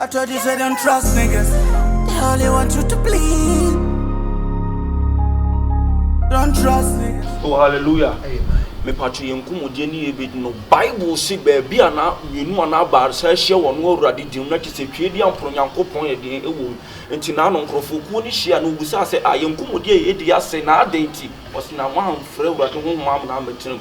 I told you, say don't trust niggas. They only want you to bleed. Don't trust niggas. Oh, hallelujah. Amen. mepatwe yɛn nkɔmmɔdeɛ ne yɛ bɛdi no bible se baabi a na mmienu anaa baasa ahyia wɔ no awurade din na te sɛ twie di amporo nyankopɔn yɛ den ɛwɔ mu nti na ano nkurɔfoɔkuo no hyia no wobusaa sɛ a yɛn nkɔmmɔdeɛ yɛdi ase na adɛn nti ɔse na moamfrɛ awurade honhom amena ammɛtena mu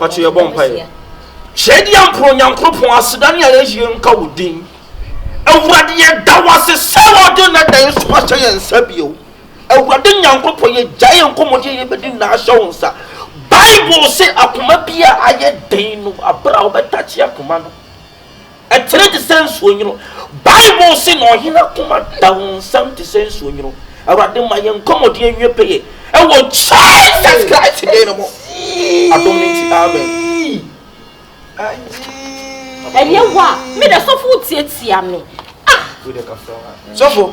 Ɔkye yɛbɔ mpaeɛ. Hyɛ di amporo Nyankoropɔn aseda ne ayɛyie nka wo din. Awurade yɛda wo ase sɛ wɔde na dan so ahyɛ yɛn nsa bio. Awurade Nyankoropɔn yɛgya yɛn nkɔmmɔdeɛ yɛbɛdi na ahyɛ wo nsa. Bible se akoma bi a ayɛ den no abere a wobɛtakye akoma no. Ɛtene te sɛ nsuonwunu. Bible se na ɔhene akoma da ho nsɛm te sɛ nsuonwunu. Awurade ma yɛn nkɔmmɔdie nwie pɛyɛ ɛwɔ Jesus Christ din no mu. Adom no nti, amen. Ɛnyɛ wo a, me dɛ sɔfo wotiatia me ah. Wo dɛ ka frɛ wo ha. Sɔfo.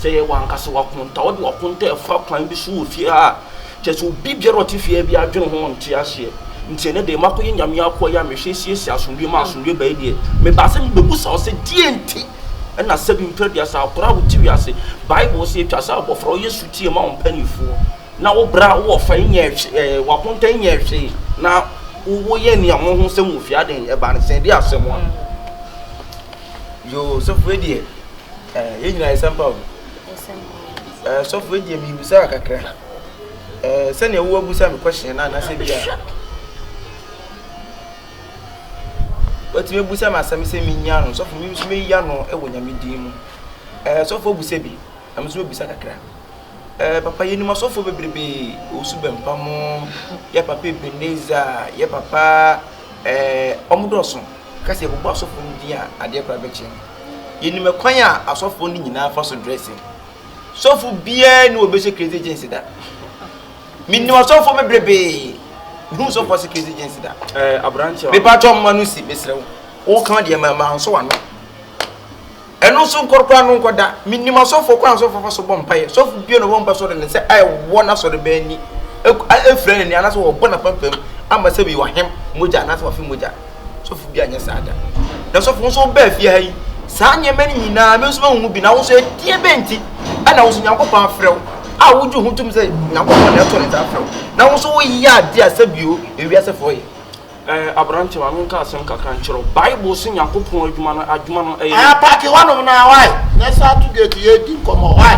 Sɛ ɛyɛ w'ankasa w'akonta, wode w'akonta refa kwan bi so wɔ fie ha a, kyerɛ sɛ obi biara a ɔte fie ha biara dwene ho nte aseɛ. Nti ɛnnɛ deɛ makɔyɛ Nyame akoa yi a mehwɛ asiesie asomdwoe ma asomdwoe ba yi deɛ, mebaa sɛ mebɛbusa wo sɛ deɛ nti na sɛ bi mfiri aduasa akora a wote wiase Bible se ɛtwa sɛ abɔfra ɔyɛ sutie ma wɔn mpaninfoɔ na wo bra wo ɔfa yi nyɛɛ hwee ɛɛ w'akonta yi nyɛɛ hwee na woyɛ nea ho ho sɛm wɔ fie aden ɛbaa ne sɛn deɛ asɛm a yoo sɔfo wei deɛ. Eh, yɛn nyinaa yɛsɛ mpa o. Yɛsɛ mpa o. Eh, sɔfo edie mi bisa kakra. Eh, sɛnea wo abusa me question na anasɛ bi a. Watumi abusa me asɛm sɛ menya no, sɔfo mi nso meya no wɔ nyame din mu. Eh, sɔfo abusa bi, na me nso mebisa kakra. Eh, papa yɛnim asɔfo bebrebe, ɔsu bɛmpa mo, yɛ papa Ebenezer, yɛ papa eh, ɔmo dɔɔso. Ka sɛ yɛbobɔ asɔfo no din a adeɛ koraa bɛkye no. Yɛnim ɛkwan a asɔfoɔ no nyinaa fa so dresse. Sɔfo biara ni wɔbɛhyɛ crazy jeans da. Menim asɔfoɔ bebrebee. Mehu sɔfoɔ ase crazy jeans da. Eh, aberanteɛ. Mepatɔ mma no si, mesrɛ wo. Woka deɛ ma ma nso ano. Ɛno nso nkɔr koraa no nkɔda. Minim asɔfoɔ kwan a asɔfoɔ fa so bɔ mpaeɛ. Sɔfo biara na ɔbɔ mpaeɛ sɛ ɔde ne nsa ɛwɔ n'asɔreban ani, afira n'ani anaasɛ ɔbɔ n'apampam ama sɛ bi wahem mogya anaasɛ wafe mogya. Sɔfo biara nyɛ saa da. Na sɔfo wo nso wobaa fie ha yi, saa nneɛma no nyinaa me nso mahu mu bi. Na wo nso ɛdeɛ bɛn nti ɛna wo nso Nyankopɔn afrɛ wo a wogye ho tom sɛ Nyankopɔn na ɛto ne nsa afrɛ wo na wo nso woyɛ adeɛ a sɛbio ewiasefoɔ yɛ? Eh, aberante, ma menka asɛm kakra nkyerɛ wo. Bible se Nyankopɔn adwuma no, adwuma no ɛyɛ. Eh, pake hɔnom na why? Na sa ato gate yɛ di nkɔmmɔ why?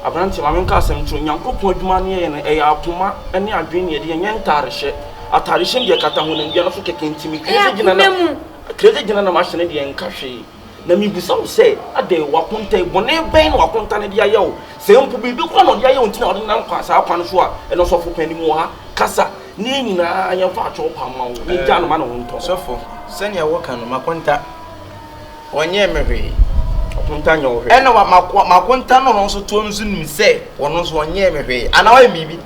Aberante, ma menka asɛm nkyerɛ wo. Nyankopɔn adwuma no yɛyɛ no, ɛyɛ akoma ne adwene na yɛde yɛ, nyɛ ntarehyɛ. Atarehyɛ no deɛ ɛkata honamdua no so kɛkɛ nti me crazy gyina na crazy gyina na mahyɛ no deɛ nka hwee. Na mibisa wo sɛ, adɛn? W'akontaa, bɔne bɛn na w'akontaa no de ayɛ wo? Sɛ mpo biribi koraa na ɔde ayɛ wo nti na wode nam kwa, saa kwan no so a, ɛnna ɔsɔfo panin wɔ ha. Kasa, na yɛn nyinaa yɛmfa akyɛw pa mma wo, na yegyaa no ma ne ho ntɔ no. Sɔfo, sɛnea woka no, m'akontaa, ɔnyɛɛ me hwee. W'akontaa nyɛɛ wo hwee. Ɛnna w'akoa, m'akontaa no a ɔno nso toɔ no nso nim sɛ ɔno nso ɔnyɛɛ me hwee. Anaa wayɛ me biribi?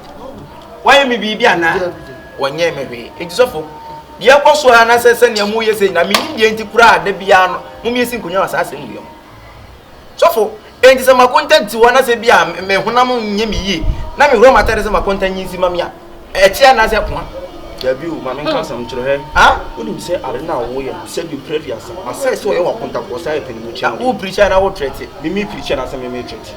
Wayɛ me biribi anaa? Ɔnyɛɛ me hwee. Enti sɔfo. Deɛ ɛkɔ so ara na sɛ sɛnea moyɛ sei na menim deɛ nti koraa a da biara no momiesi nkonnwa wɔ saa asɛm deɛ ho. Sɔfo, enti sɛ m'akonta te hɔ anaasɛ bi a me honam nyɛ me yie na mehoro m'atade sɛ m'akonta nyi nsi ma me a, ɛkyɛ anaasɛ ɛko a? Dabi o, ma menka hmm. asɛm nkyerɛ hɛ. Ah? Wonim sɛ ade no a woyɛ no sɛ bi pira duasa. Asɛ sɛ ɔyɛ w'akontafoɔ saa yɛ panimu kyɛn. Wo pirikyɛ na wo trɛte. Mimi pirikyɛ na sɛ mimi trɛte.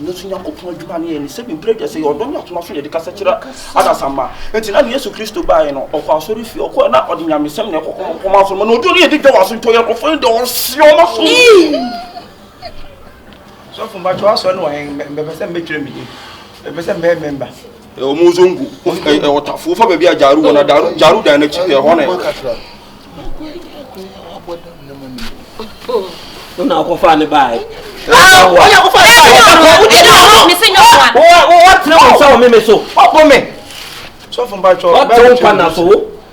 Nanso Nyankopɔn adwuma no yɛ ne sɛ mprɛ pii sɛ ɛyɛ ɔdɔ ne akoma so na yɛde kasa kyerɛ adasamma. Enti na ne Yesu Kristo baeɛ no, ɔkɔ asɔre fie, ɔkɔɛ na ɔde nyamesɛm na ɛkɔ kɔma nkɔma asɔre ma na ɔduru no yɛde dwa wɔ aso nti ɔyɛ nkurɔfoɔ yi de ɔhye ɔma so. Sɔfo mbakyɛ w'asɔre no wɔ hɛn mbɛpɛ sɛ mbɛtwerɛ me din mbɛpɛ sɛ mbɛyɛ member. wɔn zongo ɔtafo wofa baabi a gyaru wɔ na daru gyaru dan n'akyi hwɛ ɛhɔ na wona akɔfa ne bae woatena wo nsa wɔ me me so ɔpo me sɔfo mpakyɛ ɔbɛwo nkwa na so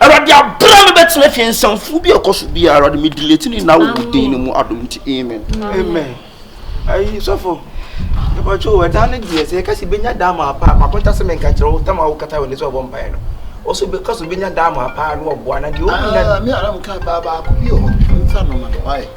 Awurade abere a mebɛtena fie nsamfo bi a ɛkɔ so biara Awurade medelete ne nna wɔ din no mu adom nti amen amen ayi sɔfo ɛbɛtwe wɔ ɛdan no deɛ sɛ yɛka sɛ bɛnya dan maa paa makɔta sɛ menka kyerɛ wo tam a wokata wɔ ne sɛ ɔbɔ mpaeɛ no ɔso bɛka so bɛnya dan maa paa no ɔboa na deɛ ɔmu na ah, me ara mka baa baako bi wɔ hɔ nsa no ma no wae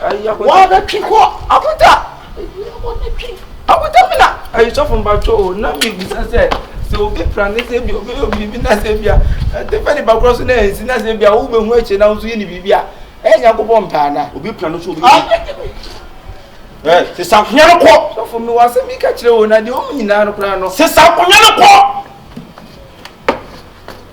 wɔabɛtwe hɔ abuta wɔbɛtwe abuta mi na. ayisɔfo mbatwo o na mi bisa sɛ sɛ obi pra ne sɛ bi obi yɛ biribi na sɛ bi a ɛtefa nipa korɔ so na ɛnsi na sɛ bi a wo bɛ hu akyire na wo nso yi ne biribi a ɛyɛ nyankopɔ mpɛ ana. obi pra ne so obi. ɛ sisan kunya no kɔ. sɔfo mi wɔ asɛm mi ka kyerɛ o na deɛ ɔmu nyinaa no koraa no. sisan kunya no kɔ.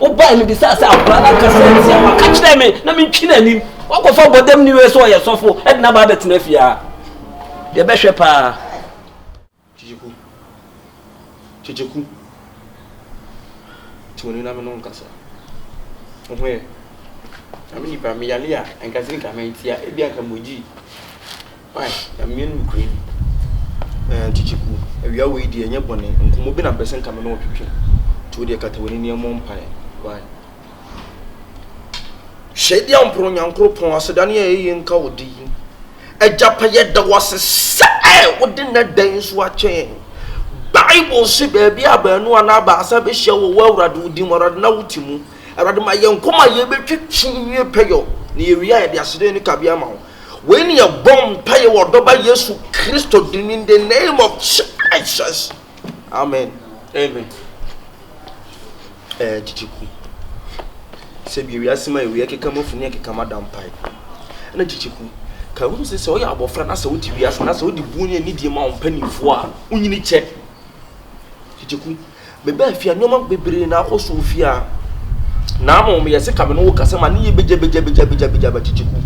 Wobae no bisaa sɛ akwadaa no aka sɛn nti a waka kyerɛɛ me na mentwi n'anim. Woakɔfa bɔdam ni wei sɛ ɔyɛ sɔfo de no aba abɛtena fie ha. Yɛbɛhwɛ paa. Kyekyeku. Kyekyeku. Ti w'ani na me no nkasa. Wo ho yɛ. Na me nipa meyale a, nka sɛ nka mentia, ebi anka mogyi. Ai na meyɛ nokorɛ ni Ɛɛ Kyekyekuu, awia wei deɛ ɛnyɛ bɔne Nkɔmmɔ bi na mepɛ sɛ nka me ne wo twetwe Nti wo deɛ kata w'ani na yɛmmɔ mpaeɛ Wai Hyɛ deɛ mporo Nyankoropɔn Aseda ne ayɛyie nka wo din Agya pa yɛda wo ase sɛ wode nnɛ da yi nso akyɛ yɛn Bible se baabi a baanu anaa baasa bɛhyia wɔ w'Awurade wo din mu Awurade na wote mu Awurade ma yɛn kɔm a yɛbɛtwetwe nwie pɛyɛ o Na yɛwie a yɛde aseda ne kabea ma wo Wei ne yɛbɔ mpaeɛ wɔ ɔdɔ ba Yesu Kristo din in the name of Jesus. Amen. Amen. Ɛɛ titi ku. Sɛ bi wiase ma ewi ɛkeka mu funu ɛkeka ma da mpae. Ɛna titi ku. Ka wuru sɛ sɛ ɔyɛ abɔfra na sɛ wote wiase na sɛ wode buo ne anidie ma wo mpanimfoɔ a wonyini kyɛ. Titi ku. Mebaa fie a, nneɛma bebree na akɔ so wɔ fie a na ama wɔn yɛ sɛ ka me ne wo kasa ma ne yɛ begyabegyabegyabegyabegya kyekyekuw.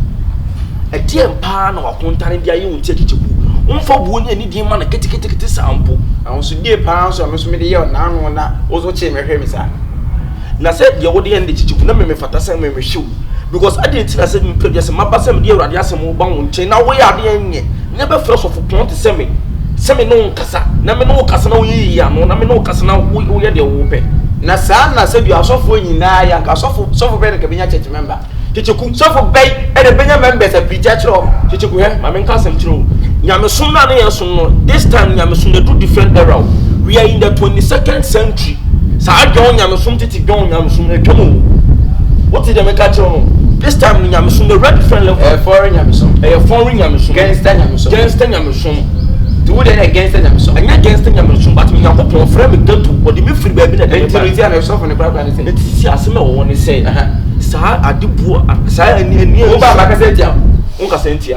Ɛdeɛn paa na w'akontane de ayɛ wo nti akyekyekuw? Womfa buo ne anidie mma no keteketekete saa mpo. Ahosodie paa nso na me nso mede yɛ wo n'ano na wo nso kyee me hwɛɛ me saa. Na sɛ deɛ wode yɛ no de kyekyekuw na me mefata sɛ mehwe wo. Because adɛn nti na sɛ nnipa bi asɛ maba sɛ mede Awurade asɛm ba wo nkyɛn na woyɛ adeɛ nyɛ, nyɛ bɛfrɛ sɔfopɔn te sɛ me sɛ me ne wo nkasa, na me ne wo kasa na woyiyi ano, na me ne wo kasa na woyɛ deɛ wopɛ? Na saa na sɛdeɛ asɔfoɔ nyinaa yɛ, anka sɔfo sɔfo bɛn na anka bɛnya church member? Kyekyeku, sɔfo bɛn na bɛnya members apirikyi akyerɛ wɔn? Kyekyeku, hɛ, ma menka asɛm nkyerɛ wo, nyamesom no a ne yɛsom no, this time no nyamesom no aduru different era o, we are in the 22nd century, saa dwon nyamesom te John nyamesom no atwam o wote deɛ meka kyerɛ no this time no nyamesom no awura different level ɛyɛ foreign nyamesom ɛyɛ foreign nyamesom gangster nyamesom gangster nyamesom ti wo deɛ na gangster nyamesom ɛnyɛ gangster nyamesom but me nyankopɔn ɔfrɛ me gato ɔde me firi baabi na ɛde me ba ɛnti na ɛsɔfo ne korakora ne sɛ ɛnti sisi asɛm a wɔwɔ ne sɛ saa adebuo saa ɛni ɛni ɛni woba abakasa ntia wo nkasa ntia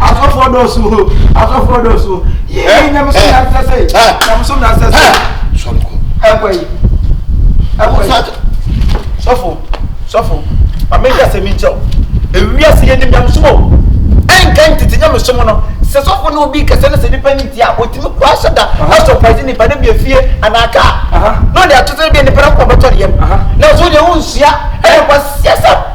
asɔfoɔ dɔɔso o asɔfoɔ dɔɔso o yii nyamesom na nsɛ sɛ nyamesom na nsɛ sɛ ɛkɔ yi ɛkɔ yi sɔfo sɔfo maame yi asɛm nkyɛw ewia se yɛ nim nyamesom o ɛnka ntete nyamesom no sɛ sɔfo na obi kɛse no sɛ nipa ni nti a otumi kɔ ahyɛ da ɛsɔ paase nipa ne bi efie anaa kaa na ɔde ato sɛ bi nipa na kɔ abɛtɔ ne yam na so deɛ wonsua ɛyɛ kɔ siasa.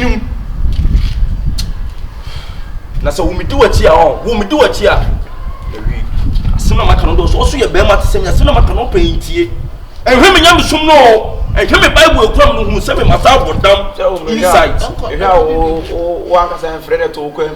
nim. Na sɛ wɔmedi w'akyi a ɔn wɔmedi w'akyi a ɛwi. Asɛm na maka no dɔɔso ɔso yɛ bɛrima te sɛ me asɛm na maka no ɔpɛ ntie. Ɛhwɛ me nyamesom no o ɛhwɛ me Bible ekura mu no hu sɛ me ma saa abɔdam insight. Ɛhwɛ a wo wo ankasa mfrɛ no ɛto wo kwan mu.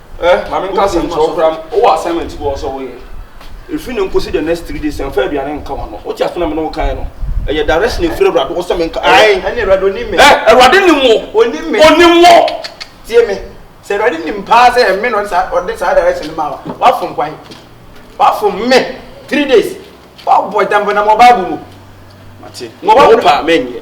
Ɛ maame nka asɛm kyerɛ wo koraa wowɔ assignment bi wɔ sɛ woyɛ ɛfiri no nkɔsi the next three days sɛ mfa aduane nka wa no wote asɛm na me ne wo kaeɛ no ɛyɛ direction ɛfiri awurade wɔ sɛ menka ɛne awurade onim me ɛ awurade nim wo onim me onim wo tie me sɛ awurade nim paa sɛ ɛme no ɔde saa direction no ma wa wafom kwan wafom me three days wabɔ ɛdambɔ na mɔ bible mu mate mɔ bible mu paa mɛnyɛ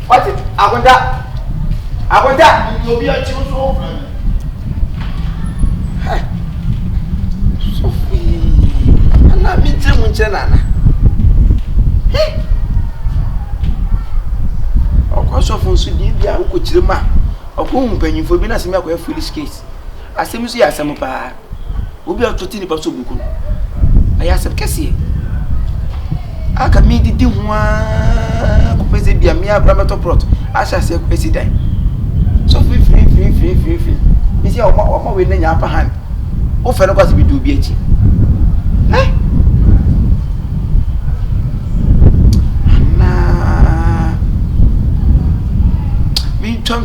What it Akoda Akoda. Mini obi akyi nso ho fura mi. Hai sɔfo yi ana mi nkyɛn mu nkyɛn nana. He ɔkɔ sɔfo nso deɛ bi a wokɔ kyerɛ mu a ɔkɔ hu mpanyinfoɔ bi na asɛm akɔyɛ foolish case asɛm nso yɛ asɛm paa. Obi a ɔtete nnipa so buku no, ɛyɛ asɛm kɛseɛ a anka medidi ho ara kɔpɛ sɛ bia me abra mɛtɔ plot ahyɛ aseɛ kɔ asi dan. So firifirifirifirifiri mesi a wɔma wɔma wei na nya apa hand. Wofɛ no kɔ ase bɛdi obi akyi. Ɛ? Anaa mentwa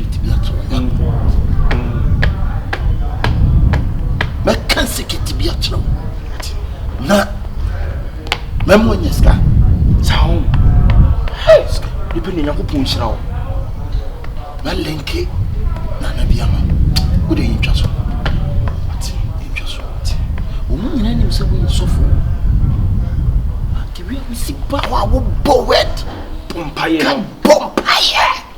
Mɛtumi ato wo yam. Mɛka nsekete bi akyerɛ wo. Na mɛma ɔnyɛ sika. Saa ho. Bibi na Nyankopɔn nhyira wo. Mɛlenke nana bi ama wo. Wode yɛntwa so. Ate, yɛntwa so. Wɔn nyinaa nim sɛ woyɛ sɔfo. Ate, wia mesi ba hɔ a wobɔ word. Pompayɛ. Ka bɔ mpayɛ.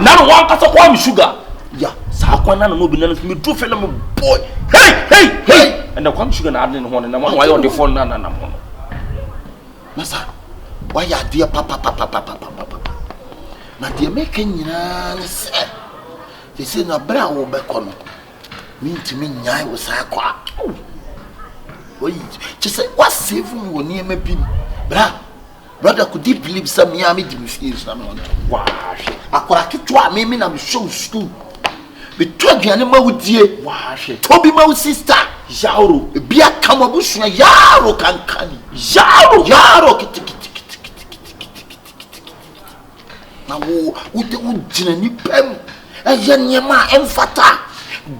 na no wankasa kɔ ami sugar ya saa kwan na na obi nana mi duro fɛ na mi bɔ hei hei hei ɛna kɔ ami sugar na adi ne ho ne nam ɔno wayɛ ɔde fɔ na nanam ho no na saa wayɛ adeɛ papapapapapapa na deɛ mɛka nyinaa ne sɛ sese na bere a wɔbɛkɔ no mintumi nyae wɔ saa kɔ a oyi kyɛ sɛ wasave mi wɔ nneɛma bi bra. Brother Kudi believe sɛ me a medi me fie nso na me ɔntɔ. Waa hwɛ. Akwadaa ketewa a me me na mehyɛ wo sukuu. Metɔ aduane ma wo die. Waa hwɛ. Tɔ bi ma wo sista. Yaro. Ebi aka mo abusua. Yaro kankani. Yaro yaro kitikitikitikitikitikitikitikiti. Na wo wo de wo gyina nipa mu. Ɛyɛ nneɛma a ɛmfata.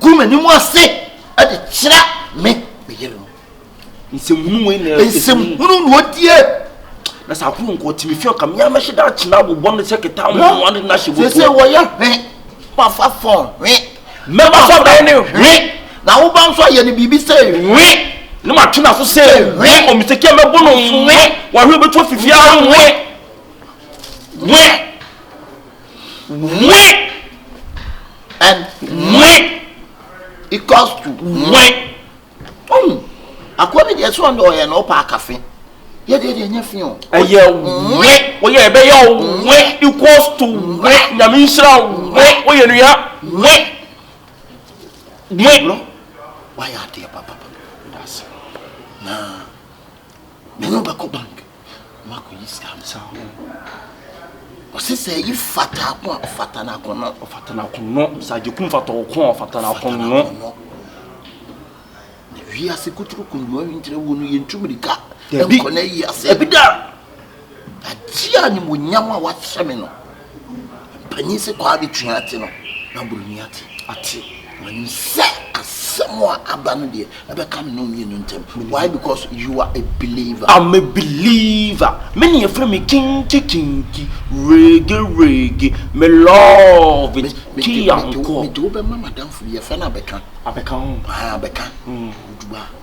Gu m'anim ase ɛde kyerɛ me me yere no. nsɛmhunu wei na nsɛmhunu na ɔdie na sɛ akoro nkɔ tumi fi ɔka mmea mɛhyɛ da akyena abobɔ no sɛ keta mmoa no na hyɛ bɔtoɔ sɛ wɔyɛ hwe mafa fɔn hwe mɛba sɛ ɔbɛyɛ ne hwe na woba nso ayɛ no biribi sɛ hwe ne matwe na so sɛ hwe ɔmesɛki a mɛbo no hwe wɔahwe wobɛtu afifia hwe hwe hwe and hwe equals to hwe Ɔn akoa bi deɛ so ɔn deɛ ɔyɛ no ɔpa akafe. Yɛ deɛ deɛ nyɛ fi o. Ɛyɛ we woyɛ ɛbɛyɛ we equals to we nyame nhyira we woyɛ nua we we. Blɔ wayɛ adeɛ papapapa. That's na mene wobɛkɔ bank. makɔyi sika ansa ho ɔsɛ sɛ yi fata ako a ɔfata no akɔnɔ ɔfata no akɔnɔ sagyeku mfata ɔko a ɔfata no akɔnɔ na wiase kuturu kundua winkyerɛ wo no yɛntu mmirika nkɔ na ayi ase ɛbi da agye a ne mu nyam a wahyɛ me no Panyin se kwaa de tua ate no na buroni ate. Ate. Wɔnim sɛ asɛm a aba no deɛ ɛbɛka me ne wo mmienu ntam. Why? Because you are a believer. I'm a believer. Me ne yɛfrɛ me kinky kinky, reggae reggae, me love it, kianko. Mede wo bɛma m'adamfo bi, yɛfrɛ no Abɛka. Abɛka ho. Ahaa, Abɛka. Wodu hɔ a.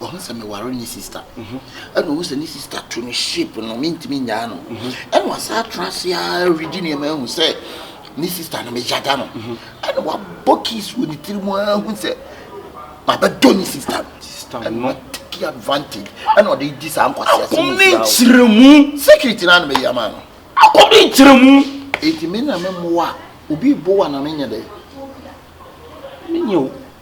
Wahu sɛ meware ne sista. Ɛna ohu sɛ ne sista to no shape no, mentumi nnyaa no. Ɛna wasan atra ase ara redi nneɛma ahu sɛ ne sista no meyada no. Ɛna wabɔ kiss wɔ ne tiri mu ara hu sɛ mabɛdɔ ne sista no. Ɛna wateki advantage ɛna ɔde redi saa nkwaseasɛm yi. Akɔm ne nkyerɛmu. Security no a na mɛyi ama no. Akɔm ne nkyerɛmu. Enti me na me mmoa a, obi rebo wo a na menyɛ dɛn? Menyɛ o.